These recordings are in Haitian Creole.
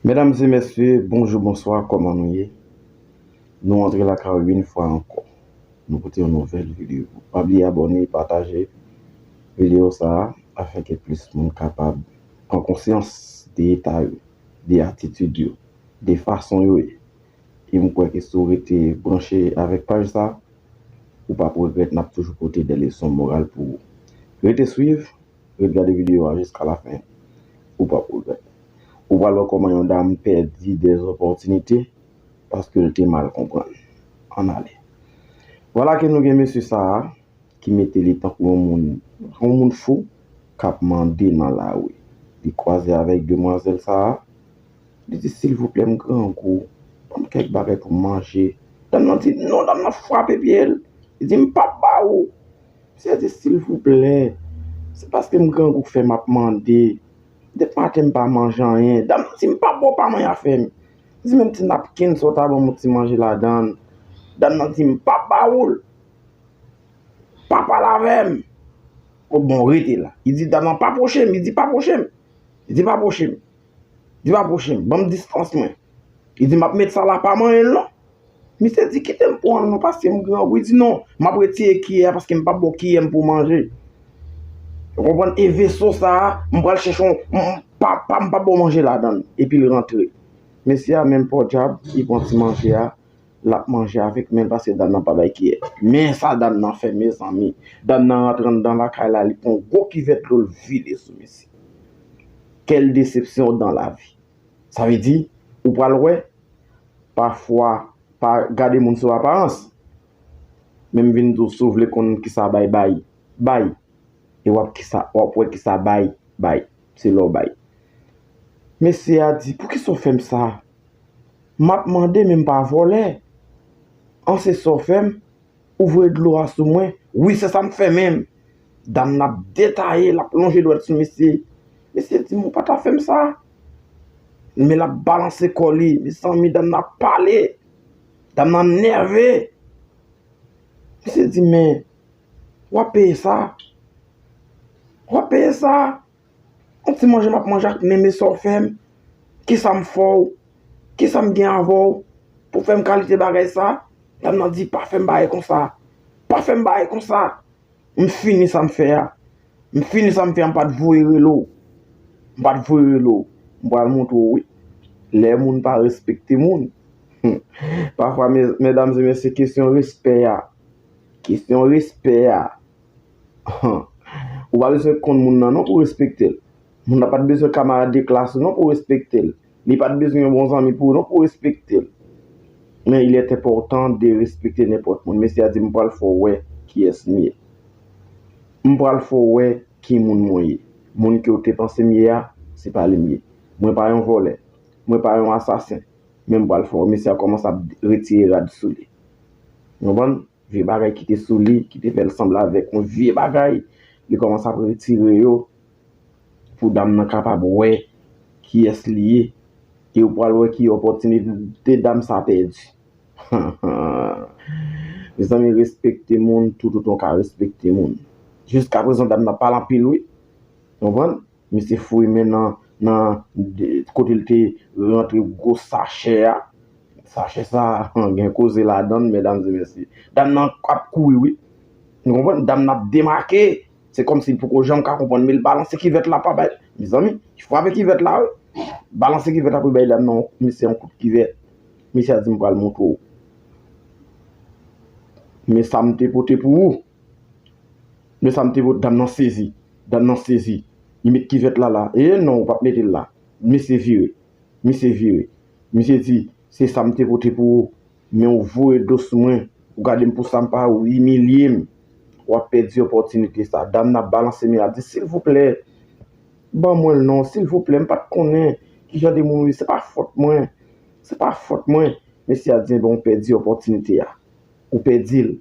Medam e mesye bonjou bonswa koman nou ye nou antre lakay ou yn fwa anko nou pote yon nouvel video pa bliye abone pataje video sa afin ke plis moun kapab pran konsyans de eta yo de atitid yo de fason yo ye e m kwè ke si w rete branche avek paj sa ou pap regret nap toujou pote de leson moral pou ou rete swiv. Ret gade video a jiska la fen ou pap regrèt. Ou pral wè kòman yon dam pèdi de zopòtinite paskel te mal konprann. Ann ale. Vwala ke nou gen mesye sa a ki mete li tankou yon moun yon moun fou kap mande nan lari. Li kwaze avèk demwazèl sa a, li di silvouplè m grangou banm kèk bagay pou m manje. Dam nan di non, dam nan frape pye l, li di m pap ba ou. Misye di silvouplè, se paske m grangou k fè map mande. Dep maten m pa manje anyen. Dam nan di m pa bo pa mwen afè m. M di menm ti napkin sa w ta banm yon ti manje ladan l. Dam nan di m pa ba ou l. Pa pale avè m. Bon rete la. Li di dam nan pa pwoche m. Li di pa pwoche m. Li di pa pwoche m. Di m apwoche m, ban m distans mwen. Li di m ap met sa la, pa manyen l non. Misye di kite m pran l non paske m grangou. Li di non, m ap retire kiyè a paske m pap ba w kiyè m pou w manje. Ou konprann? E veso sa a, m pral chèche yon, pa pa m pap ba w manje ladan l. Epi l rantre. Mesye a menm pòdjab, li pran ti manje a. lap manje avèk menl paske dam nan pa bay kiyè men sa dam nan fè mezanmi dam nan rantre anndan lakay la li pran yon gwo kivèt dlo l vide sou mesye kèl desepsyon dan lavi sa vle di ou pral wè pafwa pa gade moun sou aparans men m vin di w si w vle konn kisa bay bay bay e wap kisa wap wè kisa bay bay se lè w bay mesye a di poukisa w fè m sa. Map mande men m pa vòlè an se sa w fè m ou voye dlo a sou mwen wi se sa m fè menm dam nan ap detaye lap lonje dwèt sou mesye mesye di m ou pa ta fè m sa men lap balanse kò li mezanmi dam nan ap pale dam nan nève mesye di men wap peye sa wap peye sa. On ti manje map manje ak men men sa w fè m, ki sa m fè w, ki sa m gen avè w pou fè m kalite bagay sa, dam nan di pa fè m bagay konsa, pa fè m bagay konsa, m fini sa m fè a, m fini sa m fè a m pat voye rele w, m pat voye rele w, m pral montre w wi, lè moun pa respekte moun, hum, pafwa mèdam e mèsye kesyon respè a, kesyon respè a. Ou pa bezwen konn moun nan non pou respekte l. Moun nan pa t bezwen kamarad de klas ou non pou respekte l. Li pa t bezwen yon bon zanmi pou ou non pou respekte l. Men il est important de respecter n'importe moun. Mesye a di m pral fè w wè kiyès m ye. M pral fè w wè ki moun mwen ye. Moun ke w te panse m ye a, se pa li m ye. Mwen pa yon vòlè. Mwen pa yon asasen. Men m pral fè w wè. Mesye a kòmanse ap retire rad sou li. Nou konprann? Vye bagay ki te sou li, ki te fè l sanble avèk yon vye bagay, li kòmanse ap retire yo pou dam nan kapab wè kiyès li ye. E ou pral wè ki opòtinite dam sa pèdi. Mezanmi respekte moun toutotan w ka respekte moun. Jiskaprezan dam nan pale anpil wi. Ou konprann? Misye foure men nan nan kote l te rantre gwo sachè a. Sachè sa a gen koze ladan l medam e mesye. Dam nan ap kouri wi. Nou konprann? Dam nan ap demake. Se kòmsi l poko janm ka konprann men l balanse kivèt la pa bay. Mezanmi, li frape kivèt la wi. Balanse kivèt la pou l bay dam nan, misye yon kout kivèt. Misye a di m pral montre w. Men sa m te pote pou ou. Men sa m te wè, dam nan sezi, dam nan sezi, li met kivèt la la, ee non ou pap mete l la, misye vire, misye vire, misye di, se sa m te pote pou ou, men ou voye do sou mwen, ou gade m pou sa m pa, ou imilye m, w ap pèdi opòtinite sa, dam nan ap balanse men l ap di, silvouplè, ban mwen l non, silvouplè, m pat konnen ki jan de moun ou ye, se pa fòt mwen, se pa fòt mwen, mesye a di, enben ou pèdi opòtinite a, ou pèdi l,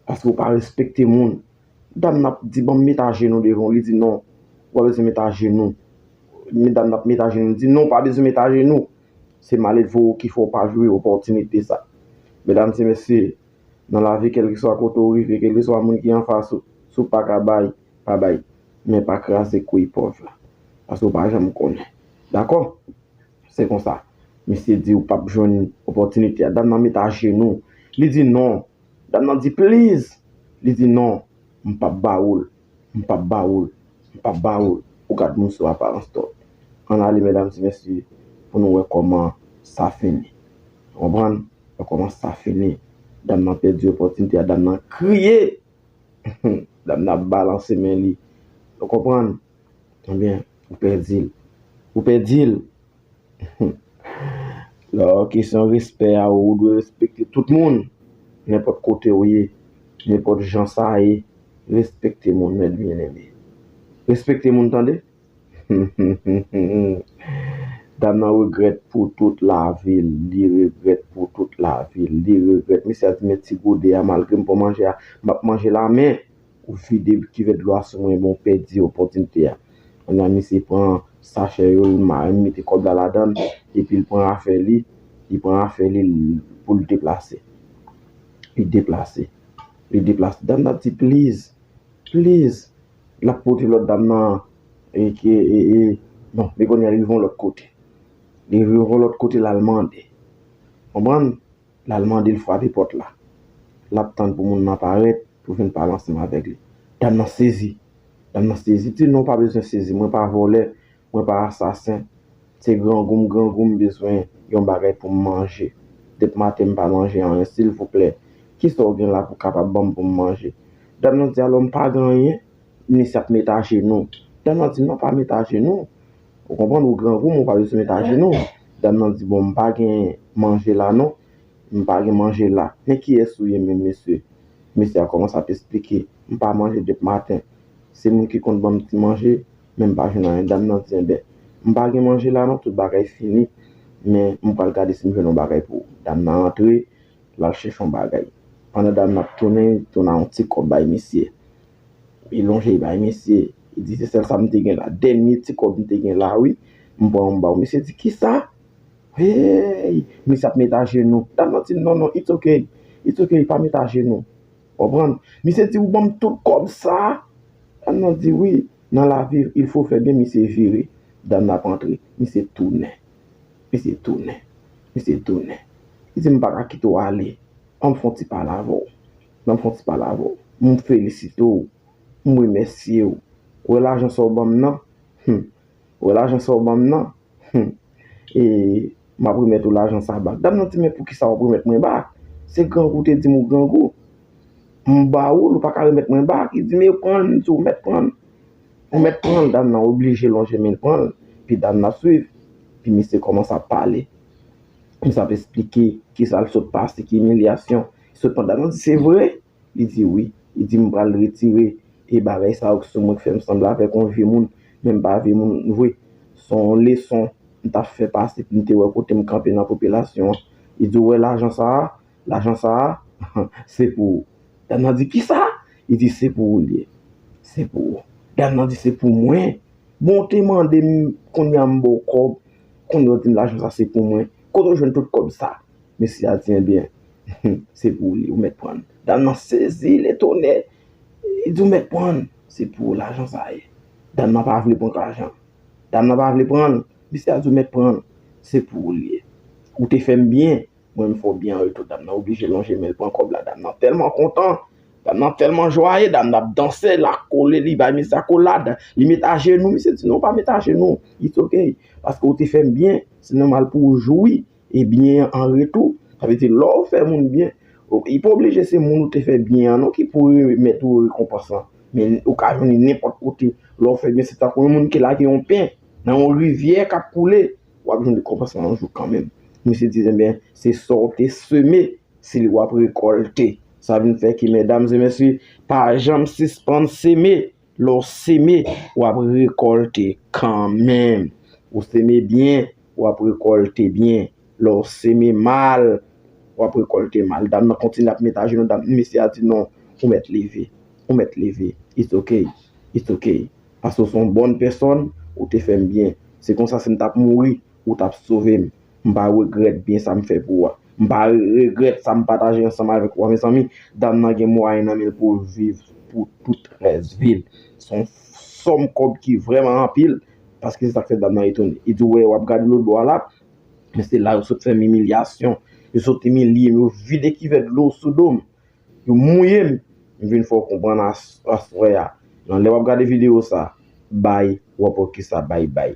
Paske ou pa respekte moun. Dam nan ap di banm met ajenou devan w, li di non, ou pa bezwen met ajenou. Medam nan ap met ajenou, li di non, ou pa bezwen met ajenou. Se malelve w ki fè w pa jwi opòtinite sa. Medam se mesye, nan lavi kèlkeswa kote ou rive, kèlkeswa moun ki anfas ou, si w paka bay, pa bay. Men pa kraze kouy pòv la. Paske ou pa janm konnen. Dakò? Se konsa. Mesye di ou pap jwenn opòtinite a. Dam nan met ajenou. Li di non. Dam nan di please li di non m pap ba ou l m pap ba ou l m pap ba ou l ou gad moun sou aparans too ann ale medam ti mesye pou nou wè kòman sa fini ou konprann wè kòman sa fini dam nan pèdi opòtinite a dam nan kriye humm dam nan ap balanse men li ou konprann. Ebyen ou pèdil. Ou pèdil! Lò kesyon respè a ou dwe respekte tout moun. Nenpòt kote ou ye, nenpòt jan sa ye, respekte moun mèt byeneme. Respekte moun tande! Dam nan regrèt pou tout lavi l, li regrèt pou tout lavi l, li regrèt. Mesye a di men ti gode a malgre m pran manje a, m ap manje l a men. Ou vide kivèt dlo a sou mwen epi ou pèdi opòtinite a. Kounye a misye pran sachè yo, li mare, li mete kòb la ladan l, epi li pran afè li, li pran afè li pou l deplase. Li deplase. Li deplase. Dam nan di pliz, pliz. L ap pote lòt dam nan e ke e e bon men kounye a li rive yon lòt kote. Li rive yon lòt kote l al mande. Konprann? L al mande l frape pòt la. L ap tann pou moun nan parèt pou vin pale ansanm avèk li. Dam nan sezi. Dam nan sezi. L di, Non, w pa bezwen sezi. Mwen pa vòlè. Mwen pa asasen. Se grangou m grangou m bezwen yon bagay pou m manje. Dep maten m pa manje anyen. Silvouplè, ki sa w gen la pou w kapab ban m pou m manje? Dam nan di, Alò, m pa gen anyen? Minis ap met ajenou. Dam nan di, Non, pa met ajenou. Ou konprann ou grangou men ou pa bezwen met ajenou w. Dam nan di bon m pa gen manje la non. M pa gen manje la. Men kiyès ou ye menm mesye? Mesye a kòmanse ap esplike. M pa manje dep maten. Se moun ki konn ban m ti manje men m pa jwenn anyen. Dam nan di enben m pa gen manje la non tout bagay fini men m pral gade si m jwenn yon bagay pou ou. Dam nan antre l al chèche yon bagay. Pandan dam nan ap tounen li tounen yon ti kòb bay mesye. Li lonje li bay misye, li di se sèl sa m te gen la, dènye ti kòb m te gen la wi, m pran m ba w. Misye di kisa? Hey! Misye ap met ajenou. Dam nan di non non, it's ok, it's ok, pa met ajenou. Ou konprann? Misye di ou ban m tout kòb sa? Dam nan di wi, nan lavi il fo fè byen, misye vire. Dam nan ap antre, misye tounen. Misye tounen, misye tounen. Li di m pa ka kite w ale, an m fon ti pale avè w. Nan fon ti pale avè w. M felisite w. M remèsye w. Wè lajan sa w ban m nan? Hum! Wè lajan sa w ban m nan? Hum! E, m ap remèt ou lajan sa a bak. Dam nan di, Men poukisa w ap remèt mwen bak? Se grangou ou te di m ou grangou. M ba ou l, ou pa ka remèt mwen bak. Li di, Men pran l, m di w mèt pran l. Ou mèt pran l. Dam nan oblije lonje men l pran l. Pi dam nan ap swiv. Pi misye kòmanse ap pale. Misye ap esplike kisa l sot pase, ki imilyasyon. Sepandaman, se vre? Li di, Wi. Li di, M pral retire e bagay sa yo ki sou mwen ki fè m sanble avèk yon vye moun, men m pa vye moun vre. S on leson m t ap fè pase pou m te wè kote m kanpe nan popilasyon an. Li di, Ou wè lajan sa a? Lajan sa a, se pou ou. Dam nan di, Ki sa? Li di, Se pou ou l ye. Se pou ou. Dam nan di, Se pou mwen? Bon, ou te mande m, kounye a m ba w kòb, kounye a ou di m lajan sa a se pou mwen. Kote ou jwenn tout kòb sa a? Mesye a di, Enben, Se pou li ou mèt pran l. Dam nan sezi, le tonè! Li di ou mèt pran l. Se pou ou lajan sa ye. Dam nan pa vle pran lajan. Dam nan pa vle pran l. Misye a di ou mèt pran l. Se pou ou li ye. Ou te fè m byen, mwen m fè w byen an retou. Dam nan oblije lonje men l pran kòb la. Dam nan tèlman kontan. Dam nan tèlman jwaye. Dam nan ap danse. L ap kole, li bay misye akolad. Li met ajenou. Misye di non, pa met ajenou. It's ok. Paske ou te fè m byen. Se nòmal pou ou jwi. e byen an an retou. Sa vle di lè w fè moun byen, li pa oblije se moun ou te fè byen an non ki pou remèt ou rekonpans lan. Men ou ka jwenn li nenpòt kote. Lè w fè byen se tankou yon moun ki lage yon pen nan yon rivyè k ap koule, w ap jwenn rekonpans lan yon jou kanmenm. Misye di enben se sa w te seme se li w ap rekòlte. Sa vin fè ke medam e mesye pa janm sispann seme. Lè w seme, w ap rekòlte kanmenm. Ou seme byen, w ap rekòlte byen. Lè w seme mal, w ap rekòlte mal. Dam nan kontinye ap met ajenou. Dam, mesye a di, non, ou mèt leve. Ou mèt leve. It's ok. It's ok. Paske ou se yon bòn pèsòn, ou te fè m byen. Se konsa si m t ap mouri, ou t ap sove m. M pa regrèt byen sa m fè pou ou a. M pa regrèt sa m pataje ansanm avèk ou a. Mezanmi, dam nan gen mwayen nan men l pou l viv pou tout rès vi l. Se yon sòm kòb ki vrèman anpil, paske se sa k fè dam nan etone. E di, wè, w ap gade lotbò a la, men se la yo sot fè m imilyasyon. Yo sot imilye m, yo vide kivèt dlo sou do m. Yo mouye m. M vin fè w konprann aswè a. Nan lè w ap gade videyo sa a, bay, w ap wè kisa bay bay.